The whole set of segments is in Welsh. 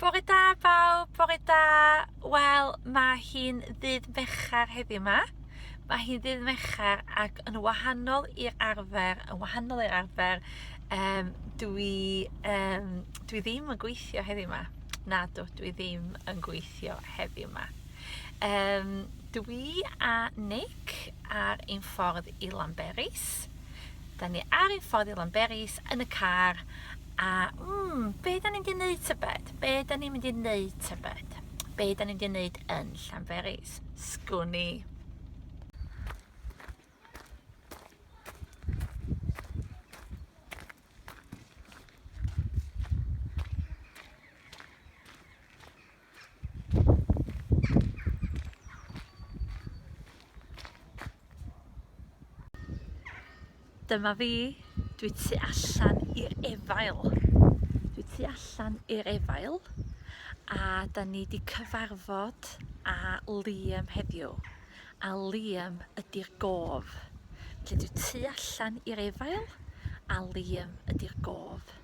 Bore da bawb, bore da. Wel, mae hi'n ddydd Mercher heddiw ma. Mae hi'n ddydd Mercher ac yn wahanol i'r arfer, yn wahanol i'r arfer, um, dwi, um, dwi ddim yn gweithio heddiw ma. Na dw, dwi ddim yn gweithio heddiw ma. Um, dwi a Nick ar ein ffordd i Lanberis. Da ni ar ein ffordd i Lanberis yn y car A, mm, be da ni'n mynd i wneud tybed? Be da ni'n mynd i wneud tybed? Be da ni'n mynd i wneud yn Llanberis? Sgwn i. Dyma fi, dwi tu allan i'r efail. Dwi tu allan i'r efail a da ni di cyfarfod a Liam heddiw. A Liam ydy'r gof. Felly dwi tu allan i'r efail a Liam ydy'r gof.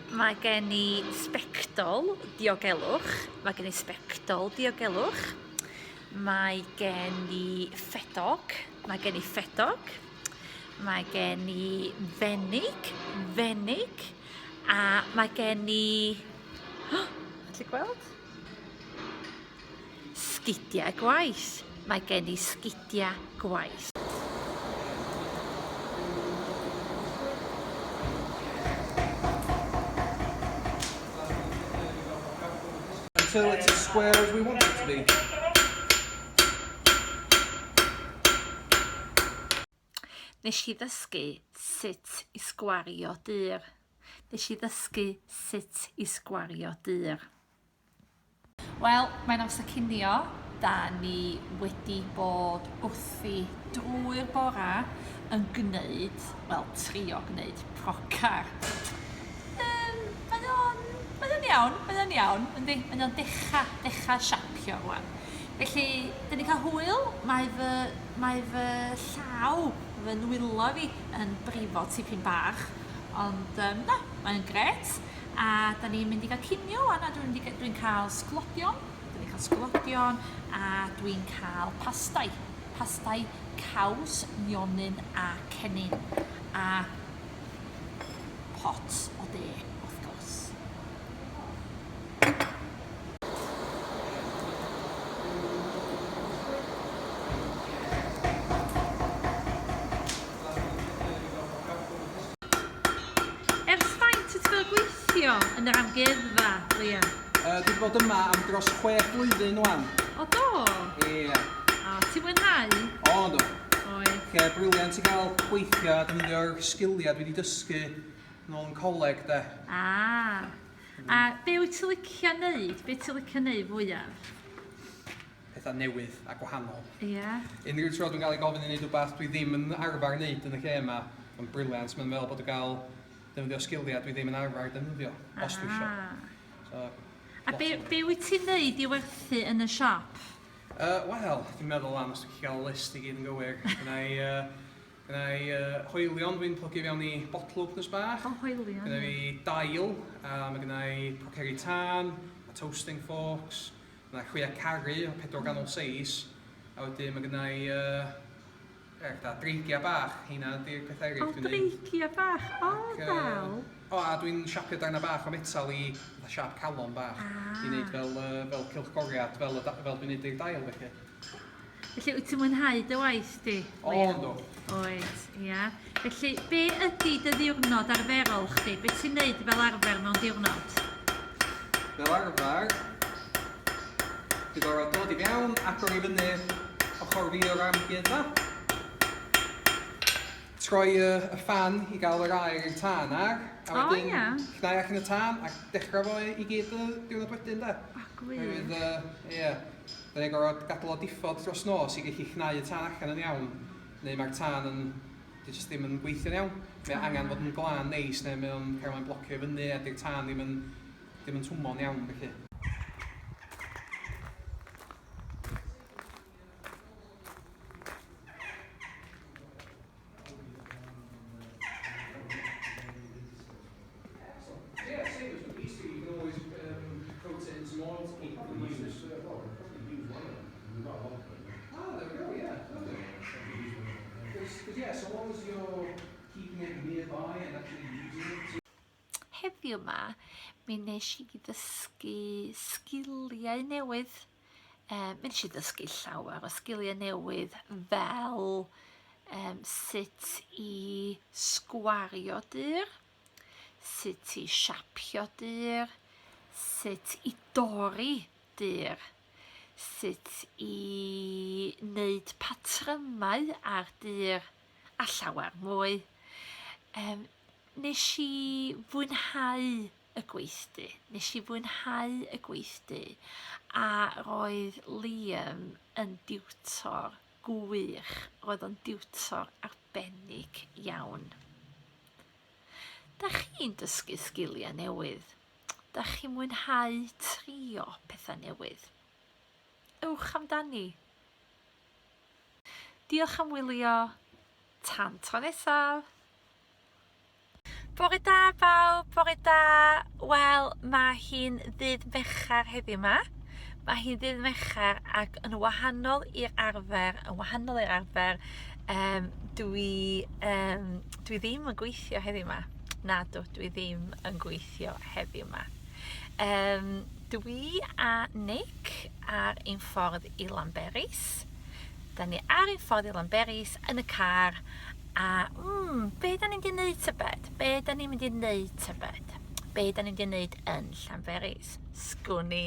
Mae gen i sbectol diogelwch, mae gen i sbectol diogelwch, mae gen i ffedog, mae gen i ffedog, mae gen i fenig, fenig, a mae gen i... Oh, ti'n gweld? Sgidiau gwaith, mae gen i sgidiau gwaith. Until it's as square as we want it to be. Nes i ddysgu sut i sgwario dyr. Nes i ddysgu sut i sgwario dyr. Wel, mae'n amser cinio. Da ni wedi bod wrthi drwy'r bora yn gwneud, wel, trio gwneud procar. Yym, mae o'n, mae o'n iawn, mae o'n iawn, yndi? Mae o'n dechra, dechra siapio rwan. Felly, dyn ni'n cael hwyl, mae fy, mae fy llaw, fy nwylo fi yn brifo tipyn bach, ond yym, na, mae'n grêt. A da ni'n mynd i gael cinio wan a dwi'n mynd i... dwi'n cael sglodion, dan ni'n cael sglodion a dwi'n cael pastai. Pastai caws, nionyn a cennin. A pot o de, wrth gwrs. Ers faint wyt ti fel gweithio yn yr amgueddfa, Liam? Yy dwi 'di bod yma am dros chwech blwyddyn ŵan. O do? Ie. O, ti'n mwynhau? O yndw. Oes. Lle briliant i gael gweithio a defnyddio'r sgiliau dwi 'di dysgu nôl yn coleg de. Ah. A be wyt ti'n licio neud? Be ti'n licio neud fwyaf? petha newydd a gwahanol. Ie. Unrhyw tro dwi'n cael ei gofyn i wneud rhywbeth dwi ddim yn arfer wneud yn y lle yma, mae'n briliant, mae'n meddwl bod yn cael defnyddio sgiliau dwi ddim yn arfer defnyddio, os dwi isio. So, A be, be wyt ti'n wneud i werthu yn y siop? Uh, Wel, dwi'n meddwl am os dwi'n cael list i gyd yn gywir. Gwna i, uh, gwna i uh, hoelion dwi'n plygu fewn i bottle openers bach. O, hoelion. Gwna i dail, a mae gwna i poceri tân, a toasting forks, Mae chwia caru o pedwar ganol seis, a wedyn mae gynna i uh, er, da, dreigia bach, heina ydy'r pethau eraill dwi'n neud. O, dreigia bach, o, Ac, dal. Uh, o, a dwi'n siapio darna bach o metal i fatha siap calon bach. Ah. I wneud fel, uh, fel cilchgoriad, fel, fel dwi'n neud i'r dail, felly. Felly, wyt ti'n mwynhau dy waith di? O, ynddo. Oed, ia. Felly, be ydy dy ddiwrnod arferol chdi? Be ti'n neud fel arfer mewn diwrnod? Fel arfer, dwi'n gorfod dod i fewn, agor i fyny ochr fi o'r amgueddfa, troi y, y ffan i gael yr aer i'r tân ar, a oh, wedyn yeah. llnau ac yn y tân, ac dechrau fo i gyd y diwrnod wedyn, da. O, gwych. Ie. Uh, yeah. Dan ni'n gorfod gadael o diffodd dros nos i gallu cnau y tân allan yn iawn, neu mae'r tân yn... di jyst ddim yn gweithio'n iawn. Mae o angen bod yn glân neis neu mae o'n cael mae'n blocio i fyny a di'r tân ddim yn... ddim yn twmo'n iawn felly. Heddiw 'ma mi nesh i ddysgu sgiliau newydd Um, mi nes i ddysgu llawer o sgiliau newydd fel um, sut i sgwario dyr, sut i siapio dyr, sut i dorri dyr, sut i wneud patrymau ar dyr a llawer mwy. Um, nes i fwynhau y gweithdy. Nes i fwynhau y gweithdy a roedd Liam yn diwtor gwych, roedd o'n diwtor arbennig iawn. Da chi'n dysgu sgiliau newydd? Da chi'n mwynhau trio pethau newydd? Ewch amdani! Diolch am wylio, tan tro nesaf! Bore da bawb, bore da. Wel, mae hi'n ddydd Mercher heddiw ma. Mae hi'n ddydd Mercher ac yn wahanol i'r arfer, yn wahanol i'r arfer, um, dwi, um, dwi ddim yn gweithio heddiw ma. Na, dwi, dwi ddim yn gweithio heddiw ma. Um, dwi a Nick ar ein ffordd i Lanberis. Da ni ar ein ffordd i Lanberis yn y car A, mm, be da ni'n di neud tybed? Be da ni'n mynd i neud tybed? Be da ni'n di neud yn Llanberis? Sgwn i.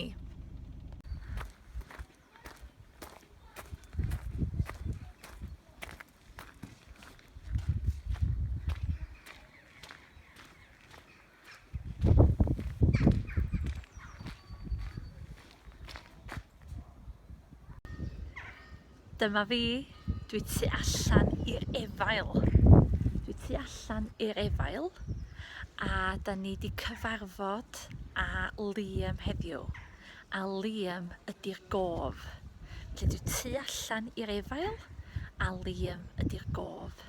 Dyma fi, dwi tu allan i'r efail. Dwi tu allan i'r efail a da ni di cyfarfod a Liam heddiw. A Liam ydy'r gof. Felly dwi tu allan i'r efail a Liam ydy'r gof.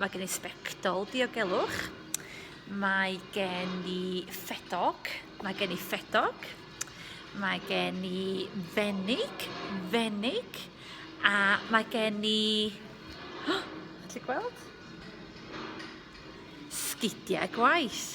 Mae gen i sbectol diogelwch. Mae gen i ffedog. Mae gen i ffedog. Mae gen i fenig. Fenig. A mae gen i... Oh, ti'n gweld? Sgidiau gwaith.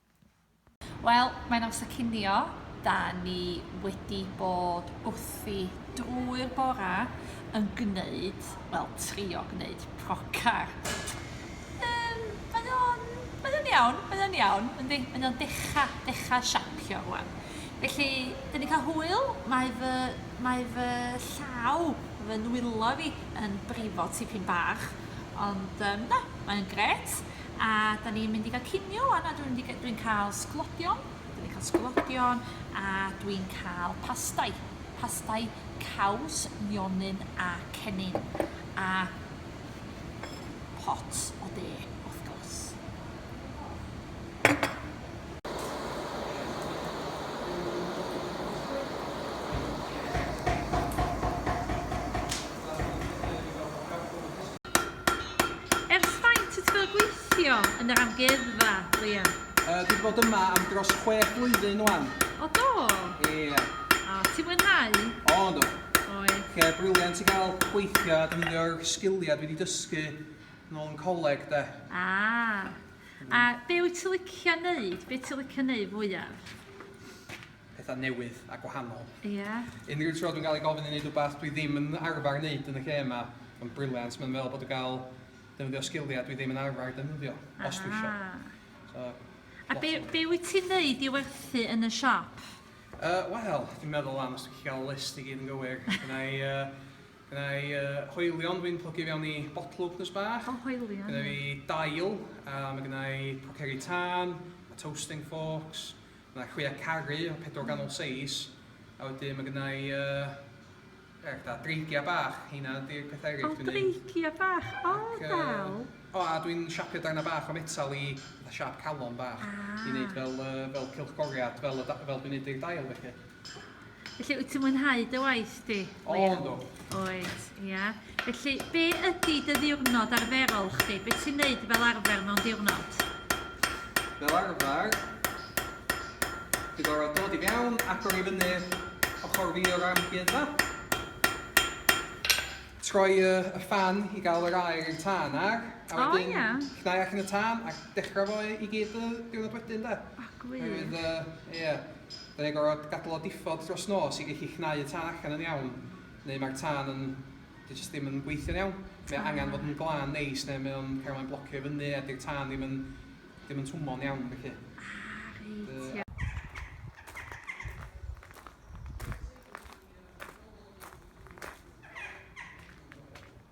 Wel, mae'n amser cinio. Da ni wedi bod wrthi drwy'r bora yn gwneud, wel, trio gwneud procar. Um, mae o'n, mae o'n iawn, mae o'n iawn. Yndi, mae o'n decha, decha siapio rwan. Felly, dyn ni cael hwyl, mae fy, mae fy llaw, fy nwylo fi yn brifo tipyn bach, ond um, na, mae'n gret. A da ni'n mynd i gael cinio wan a dwi'n mynd i ga- dwi'n cael sglodion, dwi 'di cael sglodion a dwi'n cael pastai. Pastai caws, mionyn a cennin. A pot o de, wrth gwrs. Ers faint wyt ti fel gweithio yn yr amgueddfa, Liam? Yy, dwi 'di bod yma am dros chwech blwyddyn ŵan. O do? Ie. O, ti'n mwynhau? O, yndw. Oes. Lle briliant i gael gweithio a defnyddio'r sgiliau dwi 'di dysgu nôl yn coleg, de. A. A be wyt ti'n licio neud? Be ti'n licio neud fwyaf? pethau newydd a gwahanol. Ie. Unrhyw tro dwi'n cael ei gofyn i wneud rhywbeth dwi ddim yn arfer wneud yn y lle yma, mae'n briliant, mae'n meddwl bod yn cael defnyddio sgiliau dwi ddim yn arfer defnyddio, os dwi eisiau. Ah. So, a be, be wyt ti'n neud i werthu yn y siop? Uh, Wel, dwi'n meddwl am os dwi'n cael list i gyd yn gywir. Gwna i, uh, gwna i uh, hoelion dwi'n plygu fewn i botl wpnws bach. O, hoelion. Gwna i dail, a mae gwna i poceri tân, a toasting forks, Mae chwioa caru o pedwar ganol seis a wedyn mae gynna i uh, er, da, dreigia bach, heina ydy'r pethau eraill dwi'n neud. O, dreigia bach, o, Ac, dal. Uh, o, a dwi'n siapio darna bach o metal i fatha siap calon bach ah. i wneud fel, uh, fel cilchgoriad, fel, fel dwi'n neud i'r dail felly. Felly, wyt ti'n mwynhau dy waith di? O, ynddo. Oed, ia. Felly, be ydy dy ddiwrnod arferol chdi? Be ti'n neud fel arfer mewn diwrnod? Fel arfer, ti'n gorfod dod i fewn, agor i fyny ochr fi o'r amguedd na. Troi y, y ffan i gael yr aer i'r tân ar, a wedyn oh, yeah. llnau ac yn y tân, a dechrau fo i gyd y diwrnod wedyn da. A gwych. Ie. Yeah. Byddwn ni'n gorfod gadael o diffodd dros nos i gallu cnau y tân allan yn iawn, neu mae'r tân yn... dyw e jyst ddim yn gweithio'n iawn. Mae o angen bod yn glân neis neu mae o'n cael... mae'n blocio i fyny a dyw'r tân ddim yn... ddim yn twmo'n iawn felly. Ah reit ie.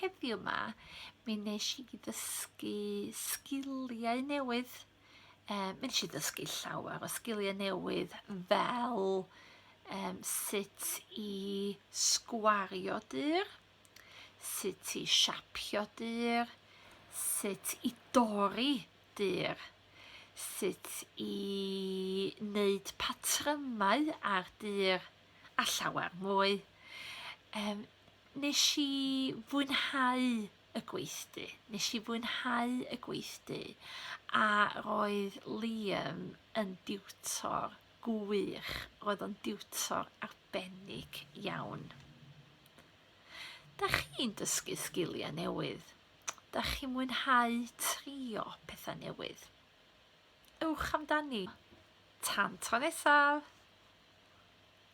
Heddiw ma, mi nes i ddysgu sgiliau newydd. Um, mi nes i ddysgu llawer o sgiliau newydd fel um, sut i sgwario dyr, sut i siapio dyr, sut i dorri dyr, sut i wneud patrymau ar dyr a llawer mwy. Um, nes i fwynhau y gweithdy. Nes i fwynhau y gweithdy a roedd Liam yn diwtor gwych. Roedd o'n diwtor arbennig iawn. Da chi'n dysgu sgiliau newydd? Da chi'n mwynhau trio pethau newydd? Ewch amdani. Tan tro nesaf!